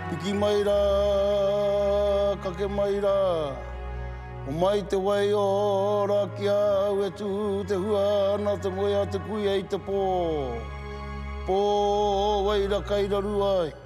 Piki mai rā, kake mai rā, Homai te wai ora ki a au e tū te hua ana te moe a te kuia i te pō, Pō wai ra kai raru ai.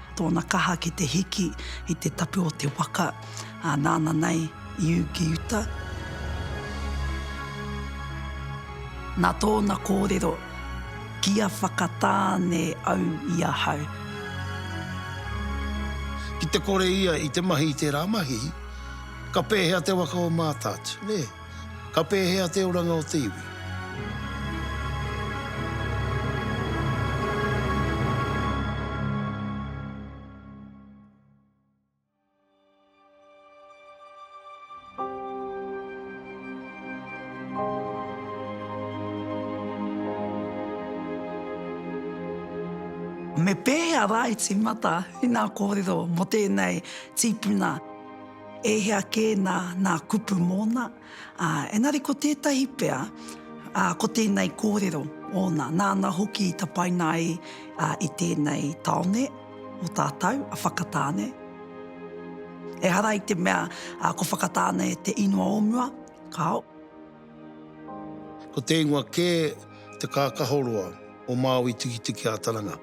Tōna kaha ki te hiki i te tapu o te waka, ā, nāna nei i ū ki uta. Nā tōna kōrero, Kia whakatāne au i ahau. Ki te kore ia i te mahi i tērā mahi, ka pēhea te waka o Mātātu, nē? Ka pēhea te oranga o te iwi? Me pēhea rā i tīmata ina kōrero mō tēnei tīpuna? E hea kē nā, nā kupu mōna, ā, engari ko tētahi pea, ā, ko tēnei kōrero ōna, nāna hoki i tapaina ai i tēnei tāone o tātou, a Whakatāne. Ehara i te mea ko Whakatāne te ingoa o mua, kāo. Ko te ingoa kē te kākahoroa o Māui Tikitiki-ā-Taranga.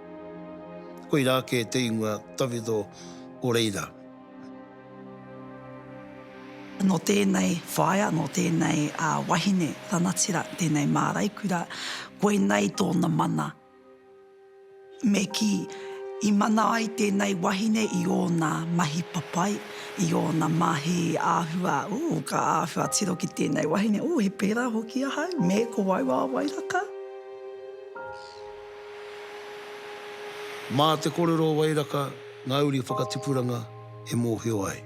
Koirā kē te ingoa tawhito o reira. Nō tēnei whaea, nō tēnei wahine ranatira, tēnei māraikura, koinei tōna mana. Me kī, i mana ai tēnei wahine i ōna mahi papai, i ōna mahi āhua, ū, ka āhua tiro ki tēnei wahine, ū, he pērā hoki ahau, me ko wau a Wairaka. Mā te korero o Wairaka. Ngā uri whakatipuranga e mōhio ai.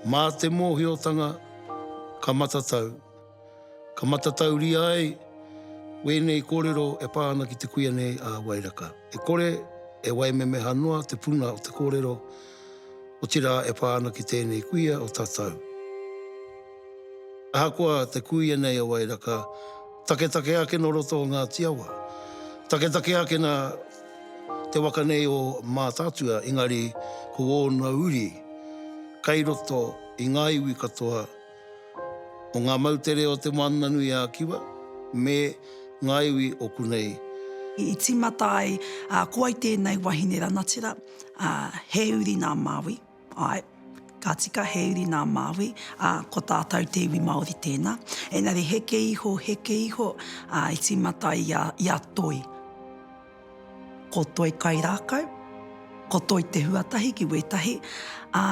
Mā te mōhiotanga ka matatau, ka matatauria ai wēnei kōrero e pā ana ki te kuia nei a Wairaka. E kore e waimemeha noa te puna o te kōrero, otirā e pā ana ki tēnei kuia o tatau. Ahakoa te kuia nei a Wairaka, taketake ake nō roto o Ngāti Awa, taketake ake nā te waka nei o Mātaatua, engari ko ōna uri kei roto i ngā iwi katoa o ngā moutere o Te Moananui-a-Kiwa me ngā iwi o konei. I tīmata ai, ko wai tēnei wahine ranatira, he uri nā Māui. Āe. Ka tika he uri nā Māui, ā, ko tātou te iwi Māori tēnā. Engari heke iho, heke iho, ā, i tīmata i a, i a Toi. Ko Toi kai rākau, ko Toi te huatahi ki wētahi, ā,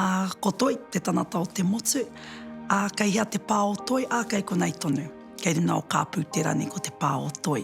ko Toi te tanata o te motu, ā, kei hea te pā o Toi, ā, kei konei tonu. Kei runga o Kāpūtera nei ko te pā o Toi.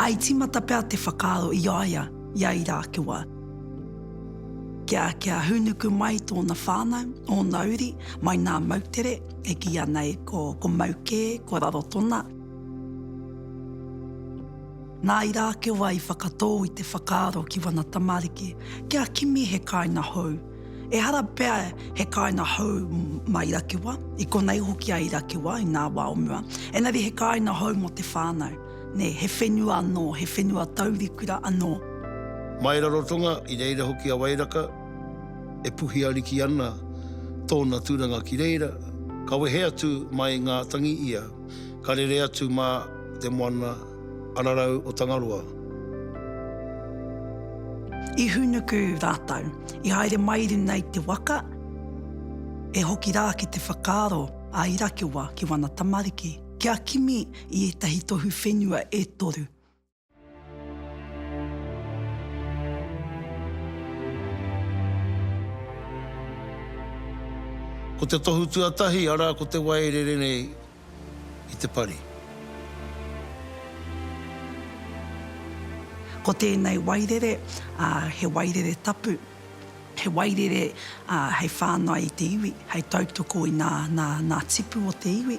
I tīmata pea te whakaaro i a ia i a Irākewa kia, kia hūnuku mai tōna whānau, ōna uri, mai nā moutere, e kīia nei ko, ko mau kē, ko Rarotona. Nā Irākewa i whakatō i te whakaaro ki wana tamariki kia kimi he kāinga hou, Ehara pea he kāina hou mā Irakewa, i konei hoki a Irakewa i nā wā o mua, engari he kāina hou mō te whānau, nē, he whenua anō, he whenua taurikura anō. Mai Rarotonga, i reira hoki a Wairaka, e puhi ariki ana tōna tūranga ki reira, ka wehe atu mai ngā tangi ia, ka rere atu mā te moana Ararau o Tangaroa. I hūnuku rātou, i haere mai runga i te waka, e hoki rā ki te whakaaro a Irakewa ki wana tamariki, kia kimi i ētahi tohu whenua e toru. Ko te tohu tuatahi, arā, ko te waereere nei. i te pari. Ko tēnei wairere, he wairere tapu, he wairere hei whāngai i te iwi, hei tautoko i ngā tipu o te iwi.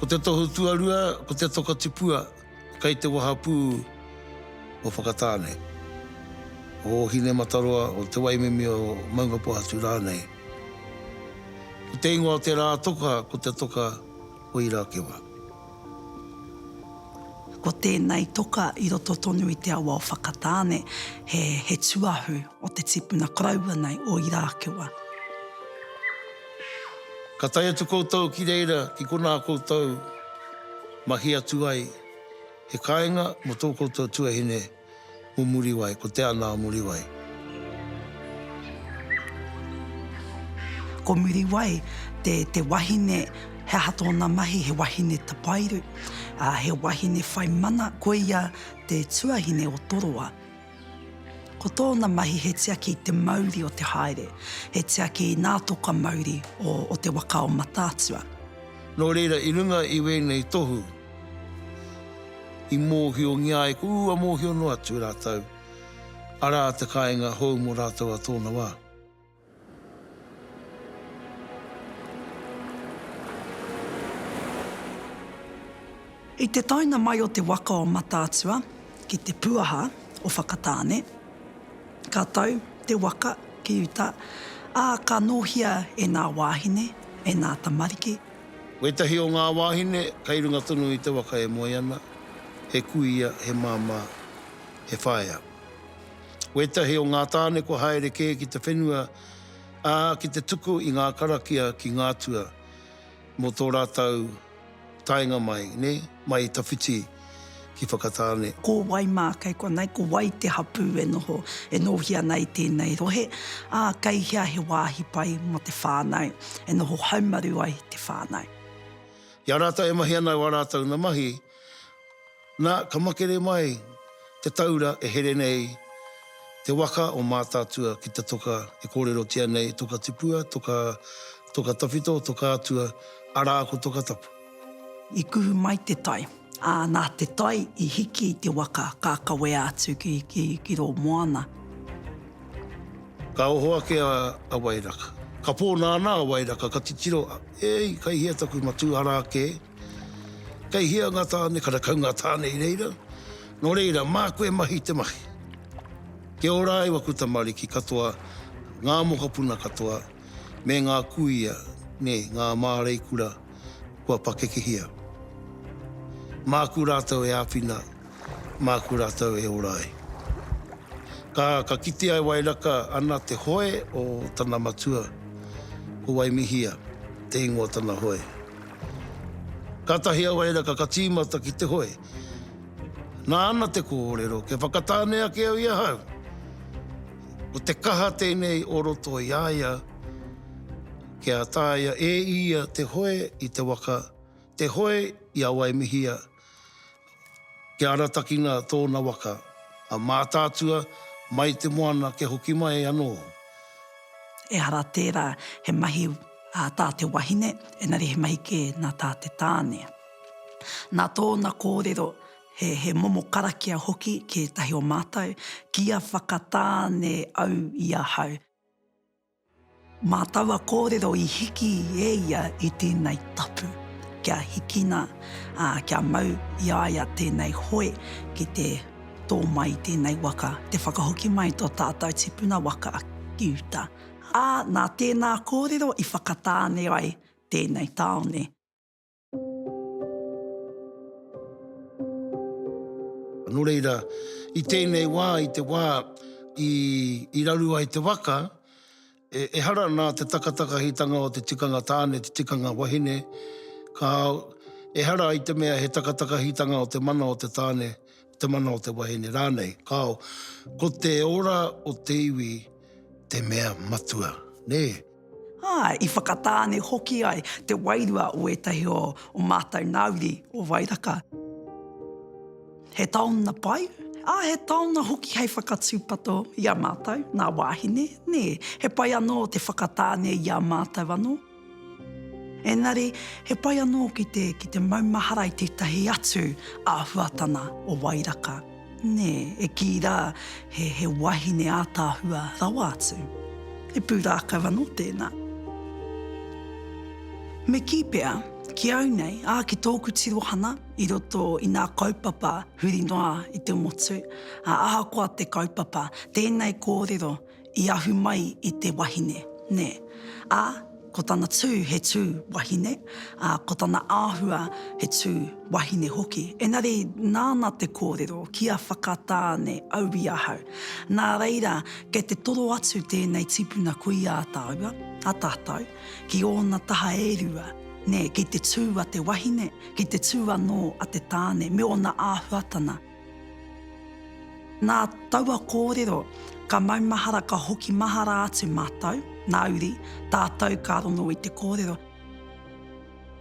Ko te tohu tuarua, ko te tokatipua. Kei te wahapū o Whakatāne, o Ōhinemataroa, o Te Waimimi, o Maungapōhatu rānei. Ko te ingoa o te rā toka ko te toka o Irakewa. Ko tēnei toka i roto tonu i te awa o Whakatāne, he tuahu o te tipuna koroua nei o Irakewa. Ka tae atu koutou ki reira ki konā koutou mahi atu ai he kāinga mō tō koutou tuahine mō Muriwai, ko Te Ana a Muriwai. Ko Muriwai te wahine, he aha tōna mahi, he wahine tapairu, he wahine whai mana, koia te tuahine o Toroa. Ko tōna mahi he tiaki i te mauri o te haere, he tiaki i nā toka mauri o te waka o Mataatua. Nō reira, i runga i wēnei tohu, i mōhiongia ai, ko ua mōhio noa atu rātou, arā te kāinga hou mō rātou a tōna wā. I te taenga mai o te waka o Mataatua ki te puaha o Whakatāne, ka tau te waka ki uta, ā, ka nōhia e ngā wāhine, e ngā tamariki. Wētahi o ngā wāhine kei runga tonu i te waka e moe ana, he kuia, he māmā, he whaea. Wētahi o ngā tāne kua haere kē ki te whenua, ā, ki te tuku i ngā karakia ki ngā atua mō tō rātou taenga mai, nē, mai i tawhiti ki Whakatāne. Ko wai mā kei konei, ko wai te hapū e noho, e nōhia ana i tēnei rohe, ā, kei hea he wāhi pai mō te whānau e noho haumaru ai te whānau. I a rātou e mahi ana au ā rātou na mahi. Na, ka makere mai te taura e here nei te waka o Mātaatua ki te toka e kōrerotia nei, Toka Tipua, Toka, Toka Tawhito, Toka Atua, arā ko Toka Tapu. I kuhu mai te tai, ā, nā te tai i hiki i te waka ka kawea atu ki, ki, ki rō moana. Ka oho ake a, a Wairaka. Ka pō nāna a Wairaka, ka titiro, Ēi, kai hea taku matū, arā kē. Kei hea nga tane karakau nga tane i reira? No reira, maku e mahi te mahi. Kia ora ai waku tamariki katoa, nga mokopuna katoa, me nga kuia, ne nga māreikura kua pakekehia. Maku ratou e awhina, maku ratou e ora ai. Ka, ka kitea e Wairaka ana te hoe o tana matua, ko Waimihia te ingoa tana hoe. Kātahi a Wairaka ka tīmata ki te hoe. Nā ana te kōrero, kia whakatāne ake au i ahau. Ko te kaha tēnei o roto i a ia, kia taea e ia te hoe i te waka, te hoe i a Waimihia, Kia aratakina tōna waka a Mātaatua mai te moana kia hoki mai anō. Ehara tērā, he mahi ā tā te wahine, engari he mahi kē nā tā te tāne. Nā tōna kōrero, he momo karakia hoki ki ētahi o mātou, Kia whakatāne au i ahau. Mā taua kōrero i hiki e ia i tēnei tapu, kia hikina, ā, kia mau i a ia tēnei hoe ki te tō mai i tēnei waka, te whakahoki mai i tō tātau tipuna waka ki uta. Ā, nā tēnā kōrero i whakatāne ai tēnei tāone. Nō reira, i tēnei wā, i te wā i raru ai te waka, ehara nā te takatakahitanga o te tikanga tāne, te tikanga wahine, ka, ehara i te mea he takatakahitanga o te mana o te tāne, te mana o te wahine rānei, kāo, ko te ora o te iwi te mea matua, nē. Ā, i whakatāne hoki ai te wairua o ētahi o o mātou nā uri o Wairaka. He taonga pai, ā, he taonga hoki hei whakatūpato i a mātou, ngā wāhine, nē, he pai anō te whakatāne i a mātou anō. Engari, he pai anō ki te, ki te maumahara i tētahi atu āhuatana o Wairaka, nē, e kī rā, he, he wahine ātaahua rawa atu. He pūrākau anō tēnā. Me kī pea, ki au nei, ā, ki tōku tirohana i roto i ngā kaupapa huri noa i te motu, ā, ahakoa te kaupapa, tēnei kōrero i ahu mai i te wahine, nē, ā, ko tana tū he tū wahine, ā, ko tana āhua he tū wahine hoki. Engari nāna te kōrero, kia whakatāne au i ahau. Nā reira, kei te toro atu tēnei tipuna kui ā tāua, ā tātou, ki ōna taha e rua, nē, ki te tū a te wahine, ki te tū anō a te tāne me ōna āhuatana, Nā taua kōrero, ka maumahara ka hoki mahara atu mātou, nā Uri, tātou ka rongo i te kōrero,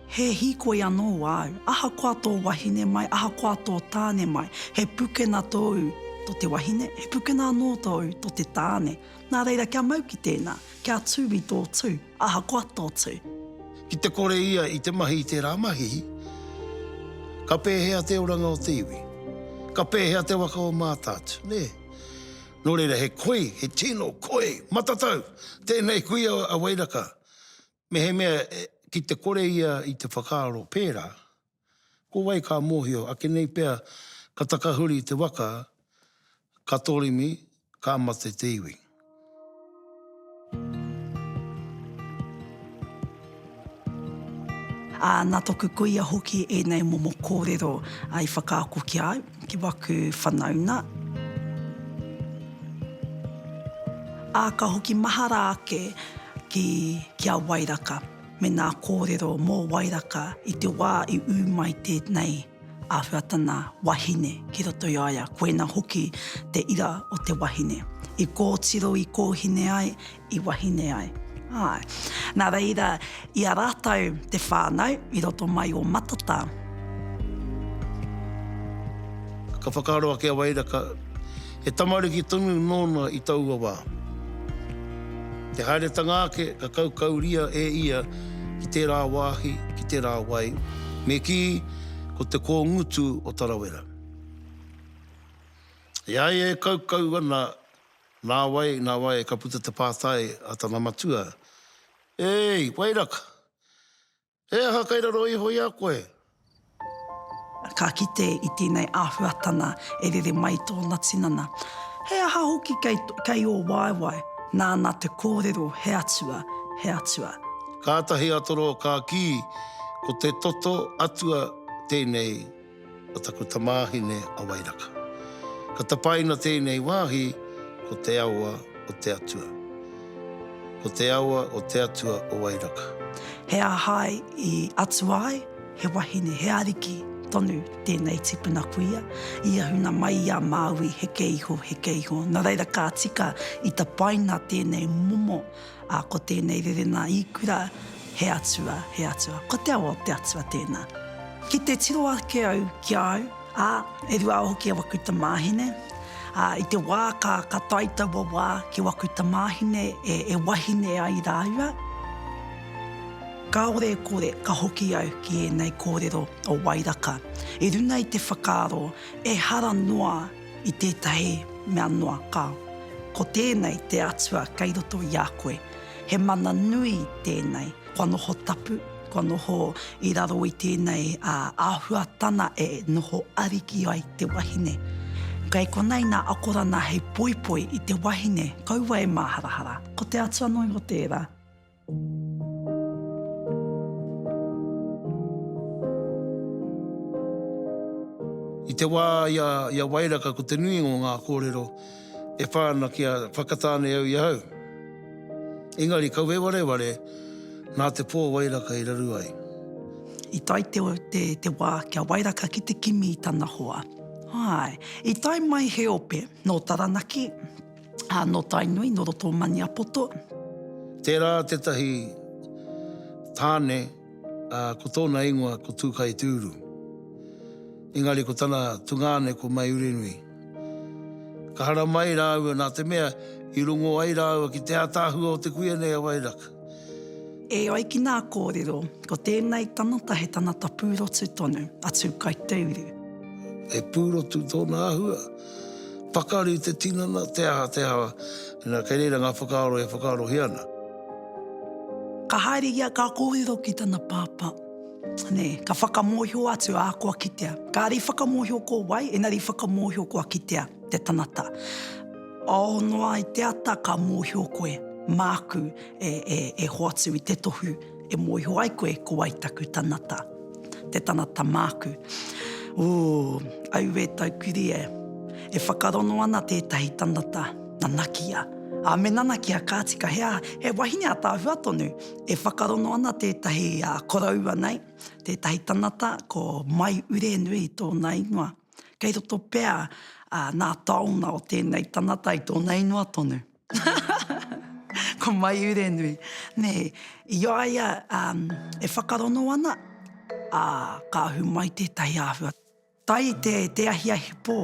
He hīkoi anō āu, ahakoa tō wahine mai, ahakoa tō tāne mai, he pukena tōu tō te wahine, he pukena anō tōu tō te tāne. Nā reira, kia mau ki tēnā, kia tū i tō tū. Ahakoa tōtū. Ki te kore ia i te mahi i tērā mahi, ka pēhea te oranga o te iwi? Ka pēhea te waka o Mātaatua, nē? Nō reira, he koi, he tino koi matatau tēnei kuia a Wairaka. Mehemea ki te kore ia i te whakaaro pērā, Ko wai ka mōhio ake nei pea ka takahuri te waka, ka toremi, ka mate te iwi. Ā, nā toku kuia hoki ēnei momo kōrero i whakaako ki a au, ki waku whanauna. Ā, ka hoki mahara ake ki a Wairaka. me ngā kōrero mō Wairaka i te wā i ū mai tēnei āhuatana wahine ki roto i a ia, koina hoki te ira o te wahine, i kōtiro, i kōhine ai, i wahine ai. Āe. Nā reira, i a rātou te whānau i roto mai o Matata. Ka whakaaro ake a Wairaka He tamariki tonu nōna i taua wā. I te haeretanga ake ka kaukauria e ia ki tērā wāhi, ki tērā wai, me kī, ko te kōngutu o Tarawera. E ai e kaukau ana, nā wai, nā wai ka puta te pātai a tana matua, Ēi, wai raka? He aha kei raro iho i a koe? Ka kite i tēnei āhuatana e rere mai i tōna tinana, He aha hoki kei, kei ō waewae? Nāna te kōrero, He atua, he atua. Kātahi a Toro ka kī, Ko te toto atua tēnei. a taku tamāhine a Wairaka. Ka tapaina tēnei wāhi ko te awa o te atua. Ko te awa o te atua o Wairaka. He aha i atua ai? He wahine, he ariki tonu tēnei tipuna kuia. I ahuna mai i a Māui heke iho, heke iho. Nā reira ka tika i tapaina tēnei momo Ā, ko tēnei rerenga i kura, He Atua, he Atua, ko te awa o te Atua tēnā. Ki te tiro ake au ki a au, ā, e rua hoki a waku tamāhine, ā, i te wā ka, ka tae taua wā ki waku tamāhine e, e wahine ai rāua, kāore e kore ka hoki au ki ēnei kōrero o Wairaka i runga i te whakaaro ehara noa i tētahi mea noa ka, ko tēnei te Atua kei roto i a koe, he mana nui tēnei, kua noho tapu, kua noho i raro i tēnei āhuatana e noho ariki ai te wahine. Kei konei nā akorana hei poipoi i te wahine, kaua e māharahara, ko te Atua noa iho tērā. I te wā i a, i a Wairaka ko te nui o ngā kōrero e whā ana kia whakatāne au i ahau. Engari kau e wareware nā te pō Wairaka i raru ai. I tae te, te, te wā ki a Wairaka ki te kimi i tana hoa. Āe, i tae mai he ope nō Taranaki, ā, nō Tainui, nō roto o Maniapoto. Tērā tētahi tāne, ā, ko tōna ingoa ko Tūkaitiuru. Engari ko tana tungāne ko Maiurenui. Ka haramai ai rāua nā te mea i rongo ai rāua ki te ātaahua o te kuia nei a Wairaka. E ai ki nā kōrero, ko tēnei tangata he tangata pūrotu tonu a Tūkaiteuru. He pūrotu tōna āhua. Pakari te tinana, te aha, te aha, ina kei reira ngā whakaaro e whakaarohia ana. Ka haere ia ka kōrero ki tana pāpā. Nē, ka whakamōhio atu, ā, kua kitea. Kāre i whakamōhio ko wai, engari i whakamōhio kua kitea te tangata. Ao noa i te ata ka mōhio koe, māku e hoatu i te tohu. E mōhio ai koe ko wai taku tanata, te tanata māku. Ooh, auē taukiri e. E whakarono ana tētahi tanata, nanakia. Ā, me nanakia ka tika he, he wahine ataahua tonu. E whakarono ana tētahi koroua nei, tētahi tanata ko Mai Urenui tōna ingoa. Kei roto pea nā taonga o tēnei tanata i tōna ingoa tonu. Ko Maiurenui, nē, i a ia e whakarono ana, ā, ka ahu mai tētahi āhua. Tai te ahiahi pō,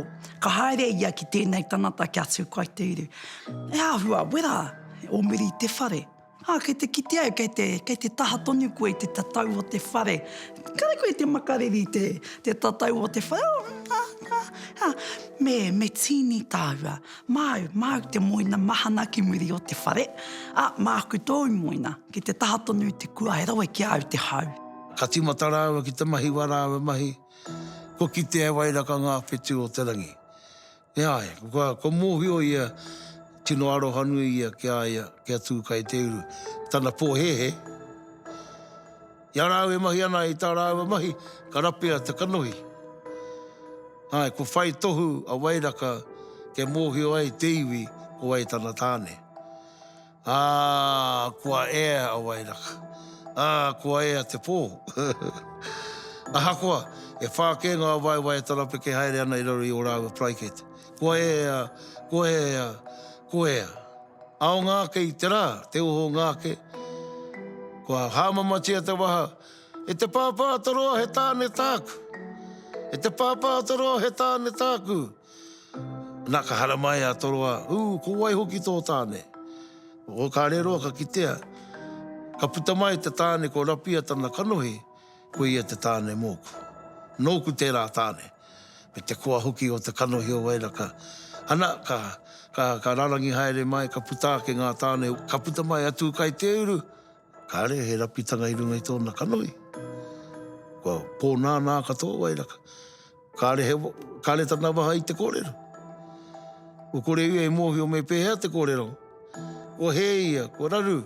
ka haere ia ki tēnei tangata kia tukua te uru. He āhua wera, o muri te whare. Ā, kei te kite au, kei te, kei te taha tonu koe i te tatau o te whare. Kāre koe i te makariri i te, te tatau o te whare, oh, ā, ā, ā. Me, me tīni tāua, māu, māu te moina mahana ki muri o te whare, ā, māku tōu moina, kei te taha tonu i te kua, he rawe ki a au te hau. Ka tīmata rāua ki te mahi wā rāua mahi, kua kitea e Wairaka ngā whetū o te rangi. E ai, kua mōhio ia tino arohanui ia ki a ia kia tū kai te uru tana pōhēhē. I a rāua e mahi ana i tā rāua mahi, ka rapea te kanohi. Āe, kua whai tohu a Wairaka kia mōhio ai te iwi ko wai tana tāne. Ā, kua ea a Wairaka. Ā, kua ea te pō. Ahakoa, e whā kē ngā waewae tarapeke haere ana i raro i ō rāua paraikete. Kua ea, kua ea, kua ea. Ao ngā ake i te rā, te oho ngā ake. Kua hāmamatia te waha, E te Pāpātoroa he tāne tāku! E te Pāpātoroa he tāne tāku! Na ka haramai a Toroa, Ū, ko wai hoki tō tāne? O ka reroa ka kitea, ka puta mai te tāne ko Rapia tana kanohi, ko ia te tāne mōku. Nōku tērā tāne, me te koa hoki o te kanohi o Wairaka. Ana, ka, ka, ka rarangi haere mai, ka puta ake ngā tāne, ka puta mai a Tūkaiteuru, Kāre he rapitanga i runga i tōna kanohi. Kua pōnānā katoa wai raka. Kāre he, kāre tana waha i te kōrero. Kua kore ia i mōhio me pēhea te kōrero. Kua hē ia, kua raru.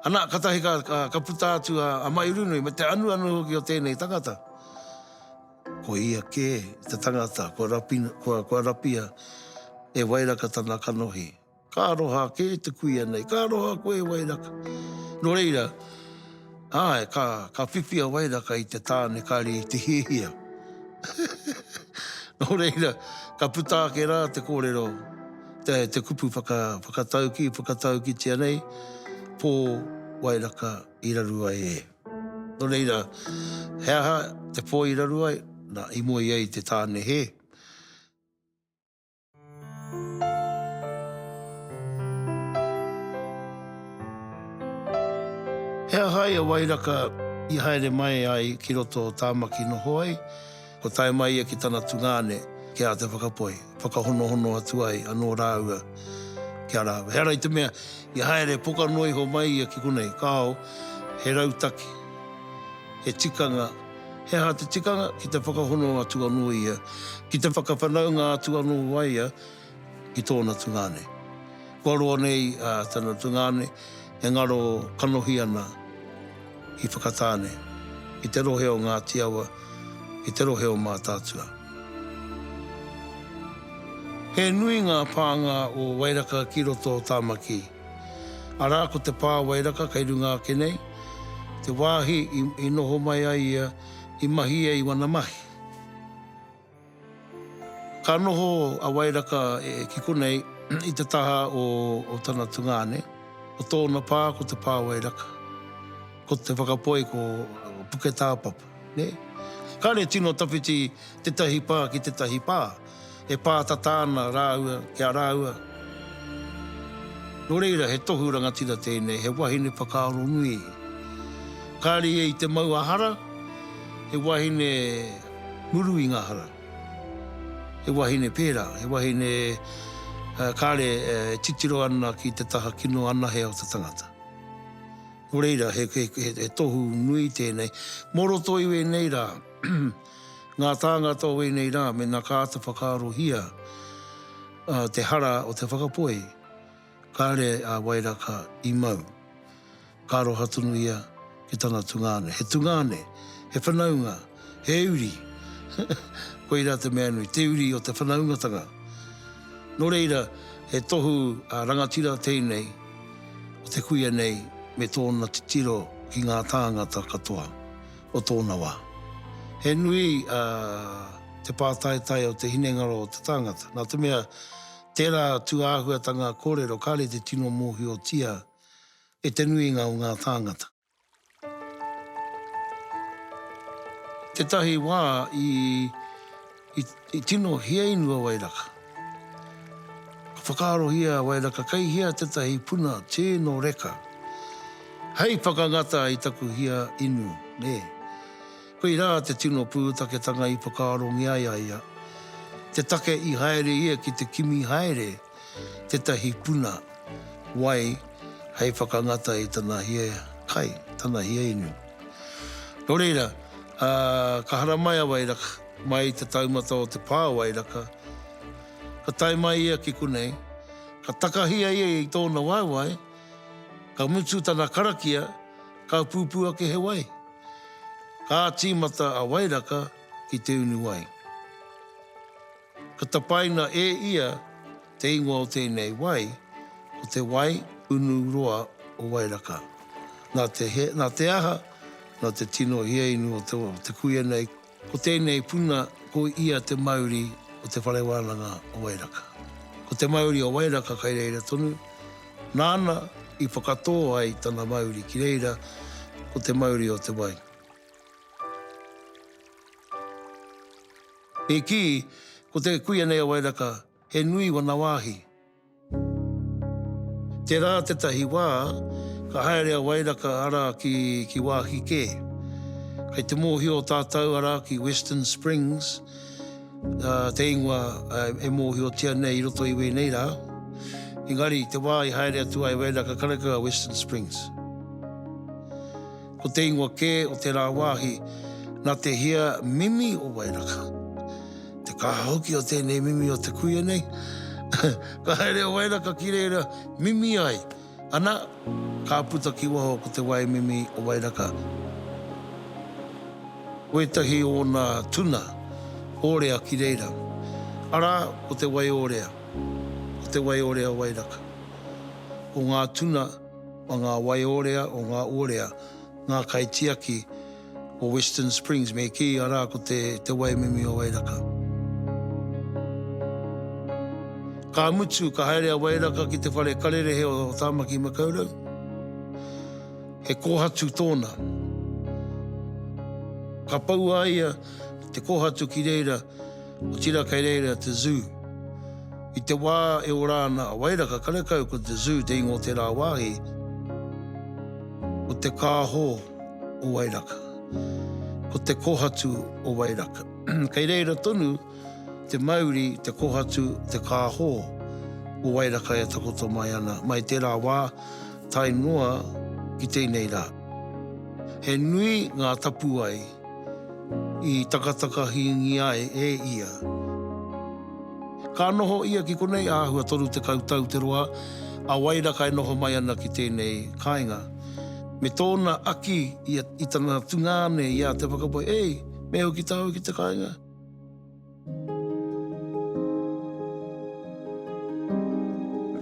Ana, katahi ka, ka, ka puta atu a, a Mairunui me te anuanu hoki o tēnei tangata. Ko ia kē te tangata kua, rapina, kua, kua rapia e Wairaka tana kanohi. Ka aroha ake te kuia nei. Ka aroha koe e Wairaka. Nō reira, āe, ka, ka whiwhi a Wairaka i te tāne kare i te hiahia. Nō reira, ka puta ake rā te kōrero, te, te kupu whaka, whakatauki, whakataukitia nei, Pō Wairaka i raru ai e. Nō reira, he aha te pō i raru ai? Nā, i moe ai te tāne he. He aha ia wairaka i haere mai ai ki roto o Tāmaki noho ai? Kua tae mai ia ki tana tungāne, ki a Te Whakapoe, whakahonohono atu ai anō rāua ki a rāua. He ara i te mea, i haere poka noa iho mai ia ki konei, kāo, he rautaki, he tikanga, He aha te tikanga? Ki te whakahono atu anō ia, ki te whakawhanaunga atu anō a ia ki tōna tungāne. Kua roa nei a tana tungāne e ngaro kanohi ana i Whakatāne, i te rohe o Ngāti Awa, i te rohe o Mātaatua. He nui ngā pānga o Wairaka ki roto o Tāmaki. Arā, ko te pā wairaka kei runga ake nei, te wāhi i noho mai ai ia i mahi ai i wana mahi. Ka noho a Wairaka ki konei i te taha o tana tungāne, ko tōna pā ko te pā wairaka, ko te whakapoi ko Puketāpapa. Nē? Kāre tino tawhiti tētahi pā ki tētahi pā, e pātata ana rāua ki a rāua. Nō reira, he tohu rangatira tēnei, he wahine whakaaro nui. Kāre ia i te mau a hara, he wahine muru i ngā hara. He wahine pērā, he wahine kāre e titiro ana ki te taha kino anahe o te tangata. Nō reira, he tohu nui tēnei. Mō roto i wēnei rā, ngā tāngata o wēnei rā, mēnā ka āta whakaarohia te hara o te whakapoe, kāre a Wairaka i mau. Ka aroha tonu ia ki tana tungāne. He tungāne, he whanaunga. He uri. Koirā te mea nui, te uri o te whanaungatanga. Nō reira, he tohu a rangatira tēnei o te kuia nei me tōna titiro ki ngā tāngata katoa o tōna wā. He nui te pātaetae o te hinengaro o te tāngata, nā te mea, tērā tū āhuatanga kōrero kāre te tino mōhiotia e te nuinga o ngā tāngata. Tetahi wa i i tino hiainu a Wairaka. Ka whakaarohia a Wairaka kei hea tetahi puna te no reka hei whakangata i taku hia inu, ne. Koira te tino puutaketanga i whakaarongia ai a ia, te take i haere ia ki te kimi haere, tetahi puna wai hei whakangata i tana hia kai, tana hia inu. No reira, ka haramai a Wairaka mai i te taumata o te pa o Wairaka, ka tae mai ia ki konei, ka takahia ia i tona waewae, ka mutu tana karakia, ka pupu ake he wai. Ka timata a Wairaka ki te unu wai. Ka tapaina e ia te ingoa o tēnei wai ko te wai unu roa o Wairaka. Nā te he, nā te aha, nā te tino hiainu o te kuia nei, ko tēnei puna ko ia te mauri o te whare wānanga o Wairaka. Ko te mauri o Wairaka kai reira tonu, nāna i whakatō ai tana mauri ki reira, ko te mauri o te wai. E kī, ko te kuia nei a Wairaka, he nui wana wāhi. Tērā tētahi wā, ka haere a Wairaka arā ki wāhi kē. Kei te mōhio tātou arā ki Western Springs, te ingoa e mōhiotia nei i roto i wēnei rā. Engari, te wā i haere atu ai Wairaka, karakia Western Springs. Ko te ingoa kē o te rāwāhi nā te hia mimi o Wairaka. Te kaha hoki o tēnei mimi o te kuia nei, ka haere a Wairaka ki reira mimi ai, ana, ka puta ki waho ko te wai mimi o Wairaka. Ko ētahi o ōna tuna ōrea ki reira, arā, ko te wai ōrea, ko te wai ōrea o Wairaka, ko ngā tuna. o ngā waiorea, o ngā orea, ngā kaitiaki o Western Springs, me kī, arā, ko te, te Waimimi o Wairaka. Ka mutu, ka haere a Wairaka ki te whare karerehe o Tāmaki Makaurau. He kōhatu tōna. Ka pau a ia, te kōhatu ki reira, Otira kei reira te Zoo. I te wā e ora ana a Wairaka karekau ko te Zoo te ingoa o tērā wāhi, ko te kāho o Wairaka, ko te kohatu o Wairaka. Kei reira tonu te mauri, te kohatu, te kāho o Wairaka e takoto mai ana, mai tērā wā tae noa ki tēnei rā. He nui ngā tapuwae. i takatakahingia e ia. Ka noho ia ki konei āhua 30 tau te roa a Wairaka e noho mai ana ki tēnei kāinga. Me tōna aki i tana tungāne i a Te Whakapae, Ei, me au ki tāu ki te kāinga?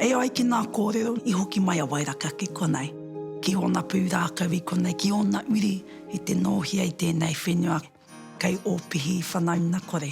E ai ki ngā kōrero i hoki mai a Wairaka ki konei, ki ōna pūrākau i konei, ki ōna uri i te nōhia i tēnei whenua kei Ōpihi whanaunakore.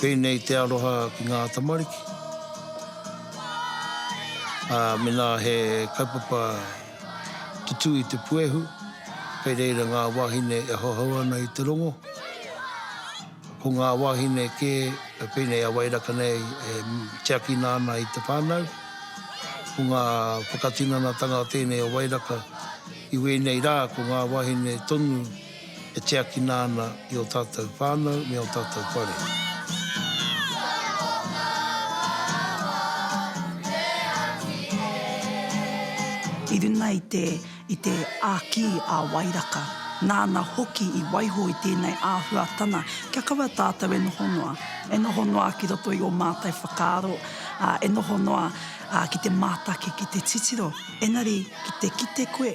Tēnei te aroha ki ngā tamariki. Ā, mēnā he kaupapa tutū i te puehu, kei reira ngā wāhine e hohou ana i te rongo. Ko ngā wāhine kē, pēnei a Wairaka nei, e tiakina ana i te whānau. Ko ngā whakatinanatanga tēnei o Wairaka, i wēnei rā ko ngā wāhine tonu, e tiakina ana i ō tātou whānau me ō tātou whare. I runga i te, i te āki a Wairaka, nāna hoki i waiho i tēnei āhuatana, kia kaua tātou e noho noa, e noho noa ki roto i ō mātou whakaaro, ā, e noho noa, ā, ki te mātaki, ki te titiro, engari ki te kite koe,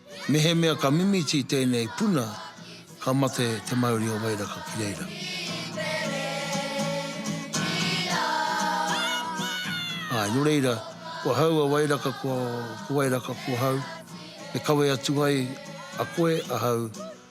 Mehemea ka mimiti tēnei puna, ka mate te mauri o Wairaka ki reira. Āe, nō reira, ko ahau a Wairaka, ko Wairaka ko ahau, e kawe atu ai a koe, ahau,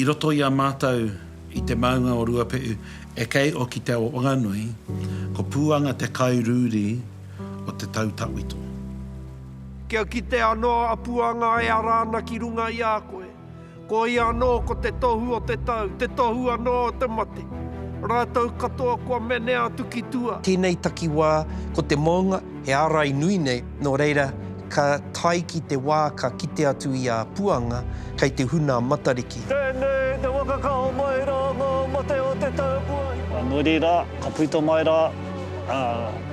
I roto i a mātou i te maunga o Ruapehu e kei o ki Te Awa Whanganui, ko Pūanga te kai rūri o te tau tawhito. Kia kite anō a Pūanga e ara ana ki runga i a koe. Ko ia anō ko te tohu o te tau, te tohu anō o te mate. Rātou katoa kua menea atu ki tua. Tēnei takiwā, ko te mounga, he ārai nui nei, nō reira, ka tae ki te wā ka kite atu i a Puanga, kei te huna a Matariki. Tēnei te waka ka hao mai rā ngā mate o te tau kua hipa. Nō reira, ka puta mai rā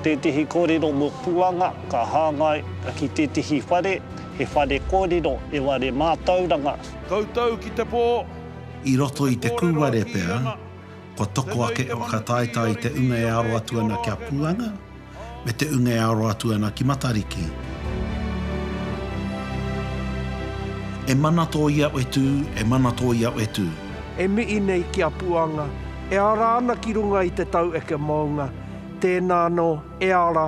tētehi kōrero mō Puanga, ka hāngai ki tētehi whare. He whare kōrero e ware mātauranga. Koutou ki te pō. I roto i te kūware pea, kua toko ake e whakataetae i te unga e aro atu ana ki a Puanga, me te unga e aro atu ana ki Matariki. E mana tō iao e tū, e mana tō iao e tū. E mihi nei ki a Puanga, e ara ana ki runga i te taueke maunga, tēnā anō, e ara,